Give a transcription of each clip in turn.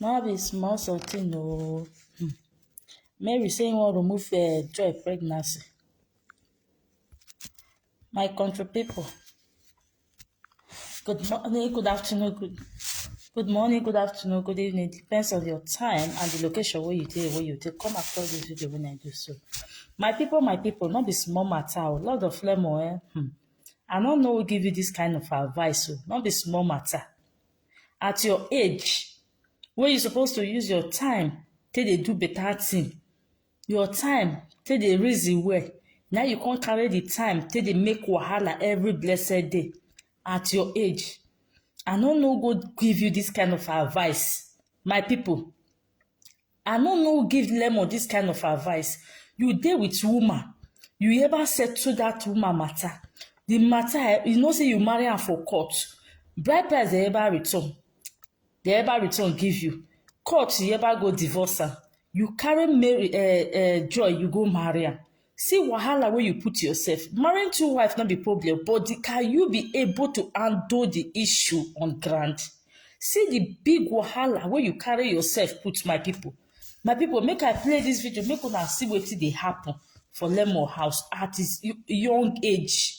No be small something oh. Hmm. Mary say he wan remove uh, Joy pregnancy. My country people. Good morning, good afternoon, good, good morning, good afternoon, good evening. Depends on your time and the location where you dey, where you dey. Come across this video when I do so. My people, my people, not be small matter. Oh. Lord of Lemo, eh? Hmm. I don't know who give you this kind of advice. Oh. Not be small matter. at your age wey you suppose to use your time take dey do better thing your time take dey reason well na you come carry the time take dey make wahala every blessed day at your age i no no go give you this kind of advice my people I no know who give Lemon this kind of advice. You dey with woman, you ever settle that woman matter. The matter, eh, you know say you marry am for court. Bride price dey ever return. Dey ever return give you. Court, you ever go divorce am. You carry Mary, uh, uh, Joy, you go marry am. See wahala wey you put yourself. Marrying two wives no be problem, but the, can you be able to handle the issue on ground? See the big wahala wey you carry yourself put, my people. My people, make I play this video, make una see wetin dey happen for Lemo house at his young age.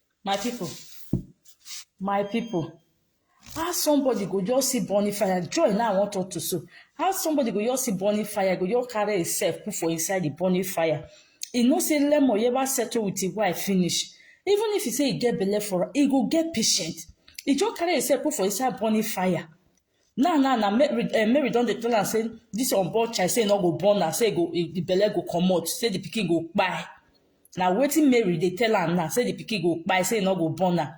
My people, my people, how somebody go just see burning fire? Joy now I want talk to so. How somebody go just see burning fire, go just carry himself put for inside the burning fire. He no say Lemo ever settle with his wife finish. Even if he say he get belle for her, he go get patient. He just carry himself put for inside burning fire. now now na mary eh, mary don dey tell am say this unborn child say e no go born am say e go e, the belle go comot say the pikin go kpai na wetin mary dey tell am now say the pikin go kpai say e no go born am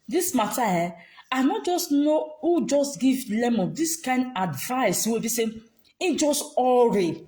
this matter eh i no just know who just give lemon this kind advice wey be say he just hurry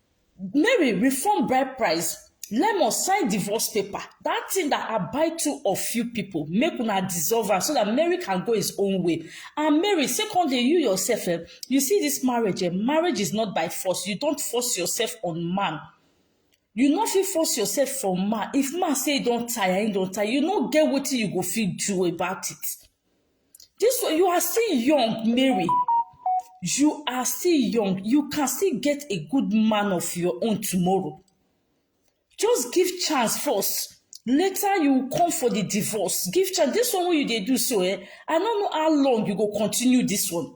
Mary reform bride price lemon sign divorce paper that thing that i buy two of you people make una dissolve am so that mary can go his own way and mary secondly you yourself eh, you see this marriage eh, marriage is not by force you don't force yourself on man you no fit force yourself for man if man say e don tire e don tire you no get wetin you go fit do about it This one, you are still young, Mary. You are still young. You can still get a good man of your own tomorrow. Just give chance first. Later you will come for the divorce. Give chance. This one wey you dey do so eh, I no know how long you go continue this one.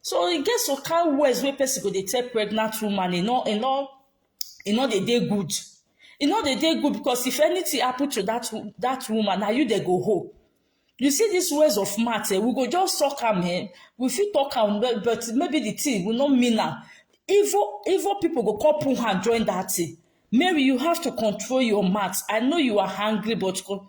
so e get some kind words wey person go dey tell pregnant woman e no e no e no dey dey good e no dey dey good because if anything happen to that wo- that woman na you dey go hold you see these words of mouth eh, we go just talk am eh, we fit talk am but but maybe the thing we no mean am evil evil people go come put hand join that thing mary you have to control your mouth i know you are angry but con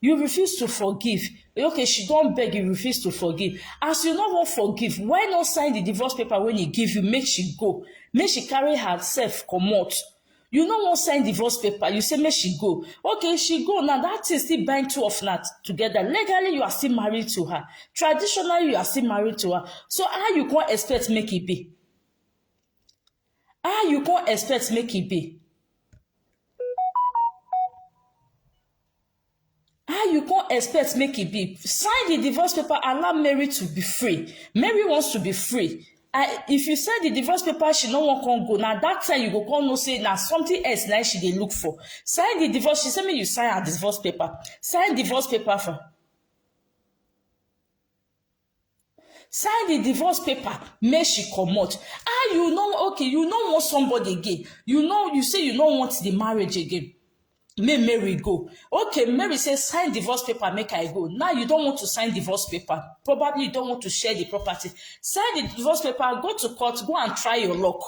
you refuse to forgive okay she don beg you refuse to forgive as you no wan forgive why no sign the divorce paper wey he give you make she go make she carry herself comot you no wan sign divorce paper you say make she go okay she go now that thing still bind two of una together legally you are still married to her traditionally you are still married to her so how you come expect make e be how you come expect make e be How you come expect make e be? Sign the divorce paper, allow Mary to be free. Mary wants to be free. I, if you send the divorce paper, she no wan come go. Na that time you go come know say na something else na she dey look for. Sign the divorce. She say make you sign her divorce paper. Sign divorce paper for. sign the divorce paper make she comot ah you know okay you no want somebody again you know you say you no want the marriage again make mary go okay mary say sign divorce paper make i go now you don want to sign divorce paper probably you don want to share the property sign the divorce paper go to court go and try your luck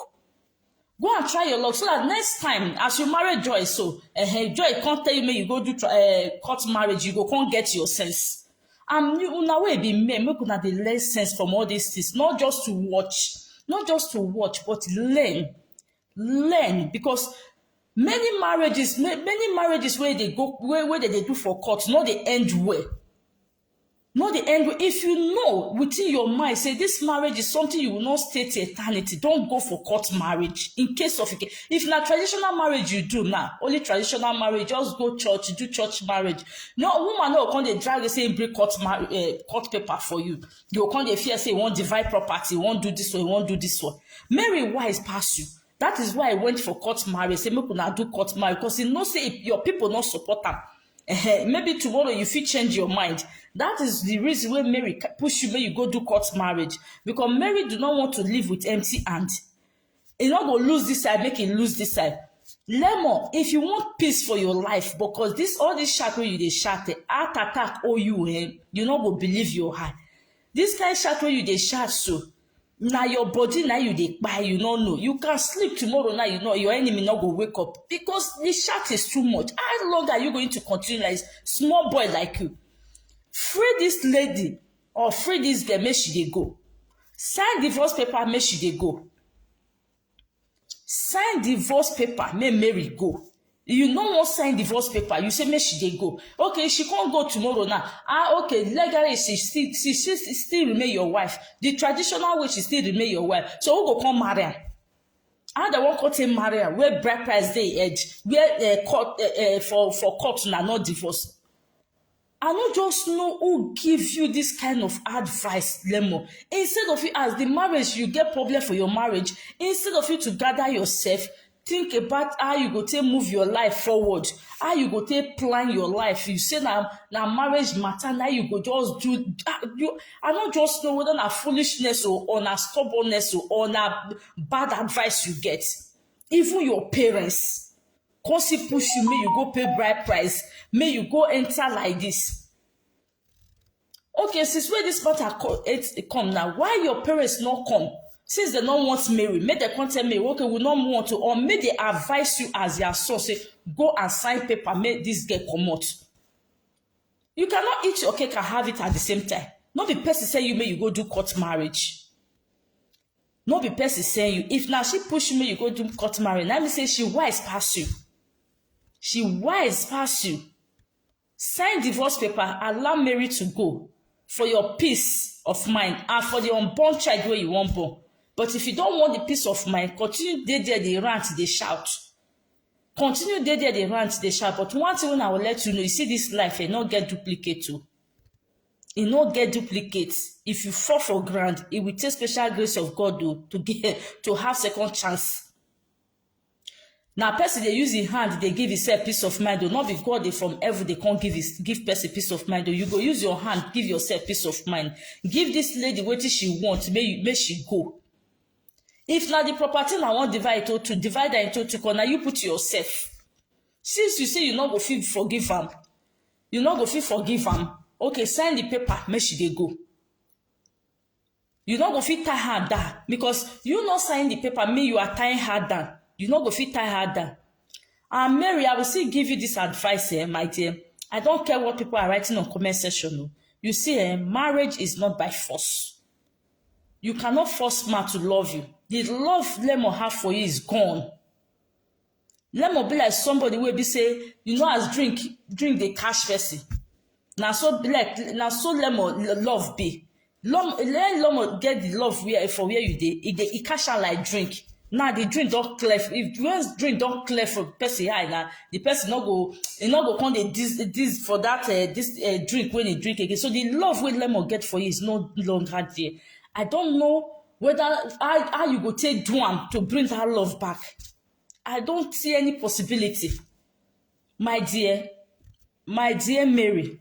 go and try your luck so that next time as you marry joy so uh, joy can't tell you make you go do uh, court marriage you go can't get your sense and you una wey be men make una dey learn sense from all these things not just to watch not just to watch but learn learn because many marriages many marriages where they go where where they dey do for court no they end well No dey angry. If you know within your mind, say this marriage is something you will not stay to eternity, don't go for court marriage. In case of, if na traditional marriage you do now, only traditional marriage, just go church, do church marriage. No, woman no come dey drag you say e bring court, mar- uh, court paper for you. You come dey fear say you wan divide property, you wan do this one, you wan do this one. Mary wise pass you. That is why I went for court marriage. Say make una do court marriage because you know say your people not support am. Uh-huh. Maybe tomorrow you fit change your mind. That is the reason why Mary push you make you go do court marriage. Because Mary do not want to live with empty hand. He not go lose this side, make him lose this side. Lemon, if you want peace for your life, because this all this shackle you dey shackle, heart attack owe you, eh? You not go believe your heart. This kind shout wey you dey shout so, na your body na you dey kpai, you no know. You can sleep tomorrow now, you know your enemy no go wake up because the shout is too much. How long are you going to continue like this? Small boy like you. Free this lady or free this girl make she dey go. Sign divorce paper make she dey go. sign divorce paper make mary go you no wan sign divorce paper you say make she dey go okay she come go tomorrow now ah okay legally she still she still she still remain your wife the traditional way she still remain your wife so who go come marry am how dem wan come take marry am where bride price dey head where uh, court uh, uh, for for court na not divorce I no just know who give you this kind of advice, Lemo. Instead of you as the marriage, you get problem for your marriage. Instead of you to gather yourself, think about how you go take move your life forward how you go take plan your life you say na na marriage matter na you go just do ah, you i no just know whether na foolishness o or na stubbornness o or na bad advice you get even your parents come see push you make you go pay bride price make you go enter like this okay since wey this matter come it e come now why your parents no come since they no want mary make dem come tell me okay we no want to or make they advise you as their son say go and sign paper make this girl comot you cannot eat your cake and have it at the same time no be person say you make you go do court marriage no be person send you if na she push you make you go do court marriage na me say she wise pass you she wise pass you sign divorce paper allow mary to go for your peace of mind and for the unborn child wey you wan born but if you don want the peace of mind continue dey there dey rant dey shout continue dey there dey rant dey shout but one thing wey i go let you know you see this life eh no get duplicate o e no get duplicate if you fall for ground e will take special grace of god o to get to have second chance na person dey use im hand dey give himself peace of mind o no be god dey from heaven dey come give his give person peace of mind o you go use your hand give yourself peace of mind give this lady wetin she want make you make she go if na the property na wan divide into two divide am into two corner you put yourself since you say you no go fit forgive am you no go fit forgive am okay send the paper make she dey go you no go fit tie her down because you no sign the paper me you are tying her down you no go fit tie her down and mary i will still give you this advice eh my dear i don't care what people are writing on comment section o you see eh marriage is not by force you cannot force man to love you the love lemon have for you is gone Lemon be like somebody wey be say you know as drink drink dey catch person. Na so be like na so lemon lo- love be. Lom, when lemon get the love where for where you dey, e dey e catch am like drink. Now the drink don clear. f- If when drink don clear for person eye now, the person no go e no go come dey dis dis for that uh, this uh, drink when he drink again. So the love wey lemon get for you is no longer there. I don't know whether how, how you go take do am to bring that love back. I don't see any possibility. My dear, my dear Mary,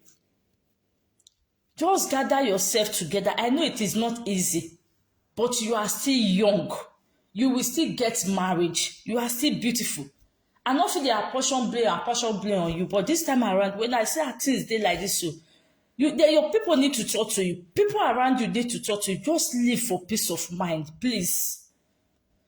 just gather yourself together. I know it is not easy, but you are still young. You will still get married. You are still beautiful. I no fit dey apportion blame apportion blame on you, but this time around, when I see how things dey like this, so you they, your people need to talk to you. People around you need to talk to you. Just live for peace of mind, please.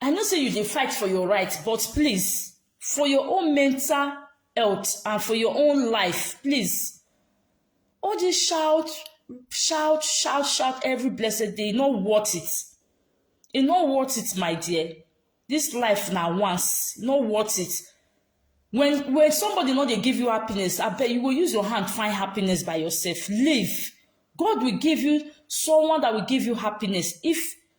I know say you dey fight for your right but please for your own mental health and for your own life please all this shout shout shout shout every blessed day e no worth it e no worth it my dear this life na once e no worth it when when somebody no dey give you happiness abeg you go use your hand find happiness by yourself leave God will give you someone that will give you happiness if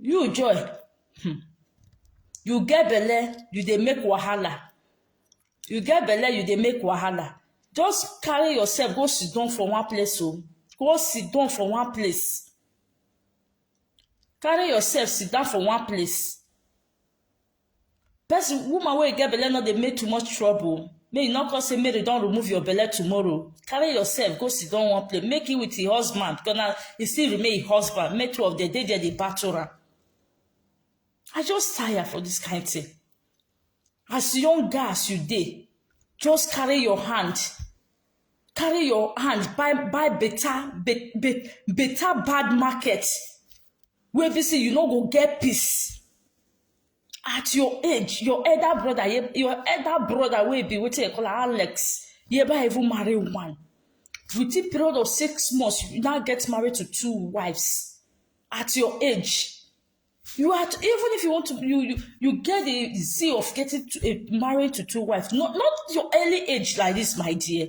you joy hmm, you get belle you dey make wahala you get belle you dey make wahala just carry yourself go sit down for one place o oh. go sit down for one place carry yourself sit down for one place person woman wey get belle no dey make too much trouble make you no come say mary don remove your belle tomorrow carry yourself go sit down one place make you with your husband because na e still remain your husband make two of them dey there dey battle am i just tire for this kind of thing as young girl as you dey just carry your hand carry your hand buy buy better be, be, better bad market Wey be say you no go get peace at your age your elder brother your elder brother wey be wetin dem call alex yeba even marry one within period of six months you now get married to two wives at your age you are even if you want to you you, you get the zeal of getting to, uh, married to two wives not not your early age like this my dear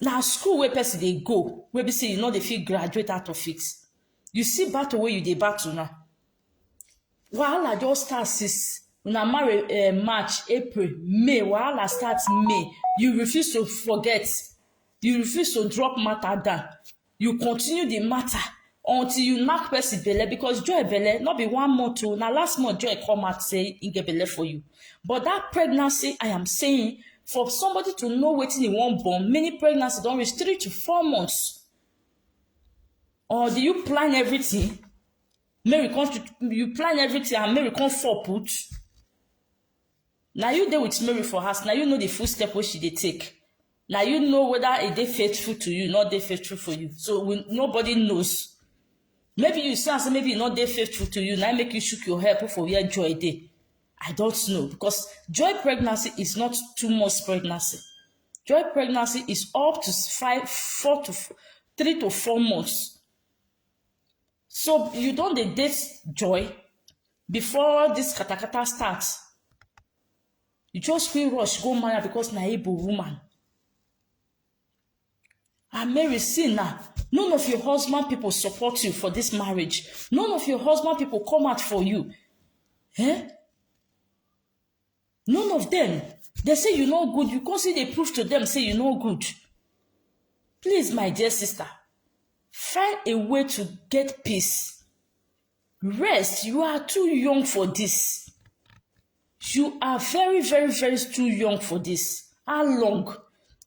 na school wey person dey go wey be say you no dey fit graduate out of it you see battle wey you dey battle now wahala just start since una marry eh, march april may wahala start may you refuse to forget you refuse to drop matter down you continue the matter until you knack person belle because joy belle not be one month o na last month joy come out say he get belle for you but that pregnancy i am saying for somebody to know wetin he wan born many pregnancy don reach three to four months or do you plan everything make we come to you plan everything and make we come fall put Na you dey with Mary for house, na you know the full step wey she dey take. Na you know whether e dey faithful to you, not dey faithful for you. So we, nobody knows. Maybe you see am say maybe e no dey faithful to you, na im make you shook your head put for where joy dey. I don't know because joy pregnancy is not two months pregnancy. Joy pregnancy is up to five, four to f- three to four months. So you don dey date joy before this katakata start. You just feel rush go marry because na Igbo woman. And Mary, see now, none of your husband people support you for this marriage. None of your husband people come out for you. Eh? none of them dey say you no good you come still dey prove to them say you no good please my dear sister find a way to get peace rest you are too young for this you are very very very too young for this how long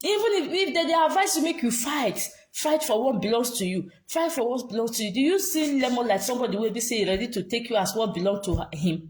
even if if they dey advise you make you fight fight for what belongs to you fight for what belongs to you do you see lemon like somebody wey be say e ready to take you as what belong to her- him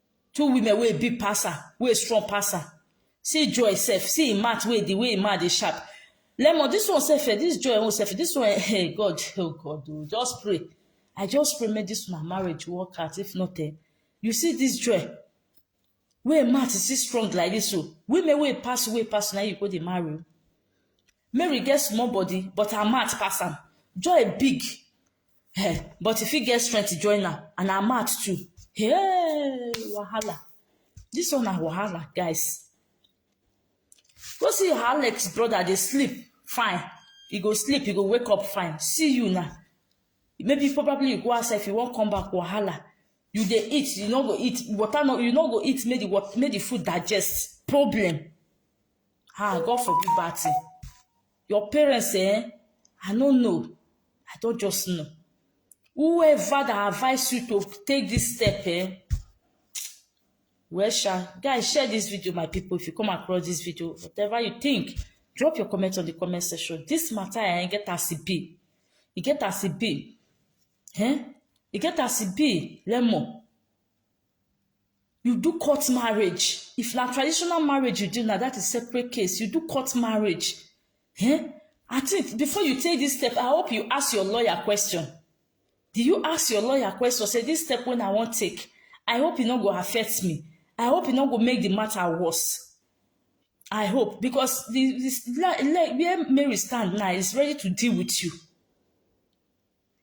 Two women wey big pass her, wey strong pass her. See Joy sef, see im mouth wey the way im mouth dey sharp. Lemon, this one sef, eh, this Joy own sef, this one, eh, hey, God, oh God, oh, just pray. I just pray make this una marriage work out. If not, eh, you see this Joy, wey im mouth still strong like this, so women wey pass, wey pass, na you go dey marry. o. Mary get small body, but her mouth pass am. Joy big, Hey, but if you get strength to join am and her mouth too. Hey, wahala. This one na wahala, guys. Go see your Alex brother dey sleep fine. You go sleep, you go wake up fine. See you now. Maybe probably you go outside if you wan come back wahala. You dey eat, you no go eat. Water no, you no go eat. Make the wat- make the food digest. Problem. Ah, God forbid bad thing. Your parents eh, I no know, I don just know. Whoever that advise you to take this step eh, well sha, guys share this video my people if you come across this video, whatever you think, drop your comment on the comment section. This matter eh, e get as e be, e get as e be, eh? e get as e be, lemon. you do court marriage if na traditional marriage you do na that is separate case you do court marriage eh i think before you take this step i hope you ask your lawyer question do you ask your lawyer question say this step wey i wan take i hope e no go affect me i hope e no go make the matter worse i hope because the, the like where mary stand now is ready to deal with you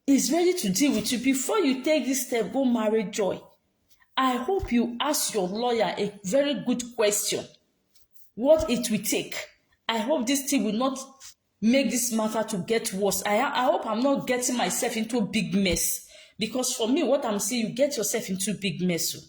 is ready to deal with you before you take this step go marry joy i hope you ask your lawyer a very good question what it will take i hope this thing will not make this matter to get worse i i hope i'm not getting myself into big mess because for me what i'm seeing you get yourself into big mess o. Oh.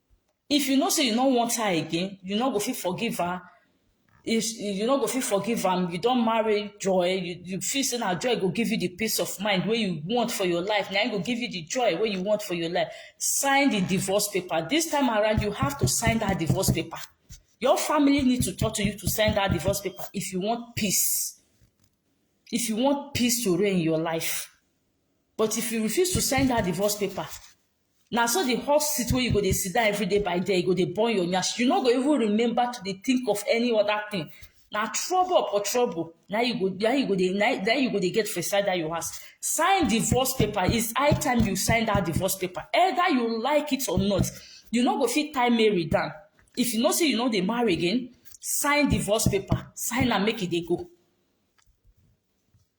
If you know say you no want her again, you no go fit forgive her. If you no go fit forgive am, you don marry joy, you, you feel say na joy go give you the peace of mind wey you want for your life, na im go give you the joy wey you want for your life. Sign the divorce paper. This time around, you have to sign that divorce paper. Your family need to talk to you to sign that divorce paper if you want peace. If you want peace to reign in your life. But if you refuse to sign that divorce paper, Na so the hot seat wey you go dey sit down every day by day, e go dey burn your nyash. You no go even remember to dey think of any other thing. Na trouble upon trouble na im you go na im you go dey na im na im you go dey get for inside dat your house. Sign divorce paper. It's high time you sign dat divorce paper. Either you like it or not, you no go fit tie Mary down. If you know sey you no dey marry again, sign divorce paper. Sign am make e dey go.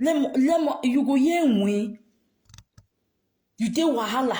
Lemon, lemon, you go hear win. You dey wahala.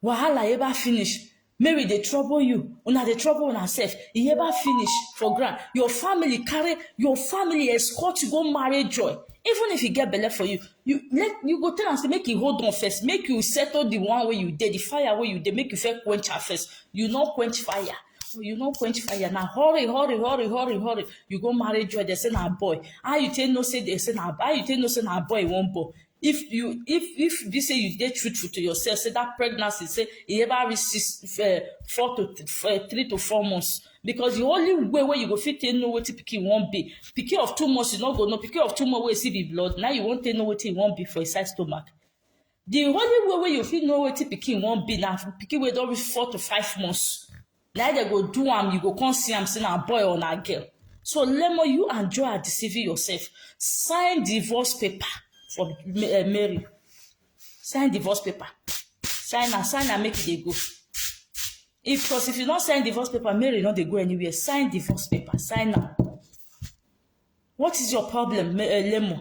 Wahala ever finish. Mary dey trouble you. Una dey trouble una sef. E ever finish for ground. Your family carry, your family escort you go marry joy. Even if you get belle for you, you let you go tell am say make e hold on first. Make you settle the one wey you dey, the fire wey you dey, make you first quench am first. You no quench fire. you no quench fire na hurry hurry hurry hurry hurry you go marry joy dey say na boy how you take know say dey say na how you take know say na boy you wan born if you if if be say you dey truthful to yourself say that pregnancy say e ever reach six uh, four to th uh, three to four months because the only way wey you go fit take know wetin pikin wan be pikin of two months you no go know pikin of two months wey you see be blood now you wan take know wetin e wan be for inside stomach the only way wey you fit know wetin pikin wan be na pikin wey don reach four to five months na dem go do am you go come see am say na boy or na girl so lemo you and joy are deceiving yourself sign divorce paper for eh, mary sign divorce paper sign am sign am make e dey go if because if you no sign divorce paper mary no dey go anywhere sign divorce paper sign am what is your problem eh, lemo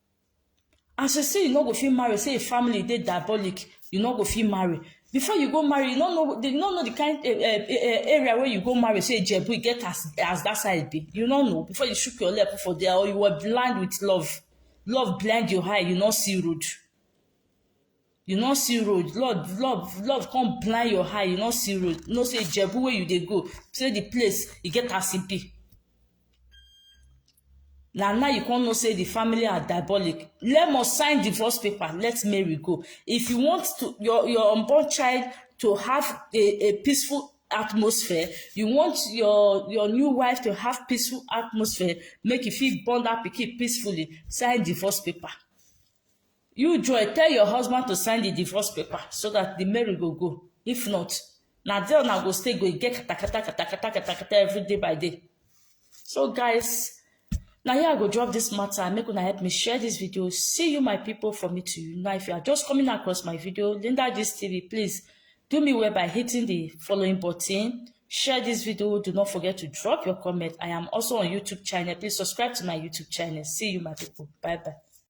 As you say you no go fit marry, say your family dey diabolic, you no go fit marry. Before you go marry, you no know you no know the kind uh, uh, uh, area where you go marry. Say Jebu, you get as as that side be. You no know before you shook your leg put for there, or you were blind with love. Love blind your eye, you no see road. you no see road love love love come blind your eye you no see road you know say ijebu wey you dey go say the place e get as e be na now you come know say the family are diabolic let must sign divorce paper let mary go if you want to your your unborn child to have a a peaceful atmosphere you want your your new wife to have peaceful atmosphere make you fit born that pikin peacefully sign divorce paper You Joy, tell your husband to sign the divorce paper so that the marriage go go. If not, na there una go stay go get katakata katakata katakata every day by day. So guys, now here I go drop this matter. Make una help me share this video. See you, my people, for me to you. Now, if you are just coming across my video, Linda Gist TV, please do me well by hitting the following button. Share this video. Do not forget to drop your comment. I am also on YouTube channel. Please subscribe to my YouTube channel. See you, my people. Bye bye.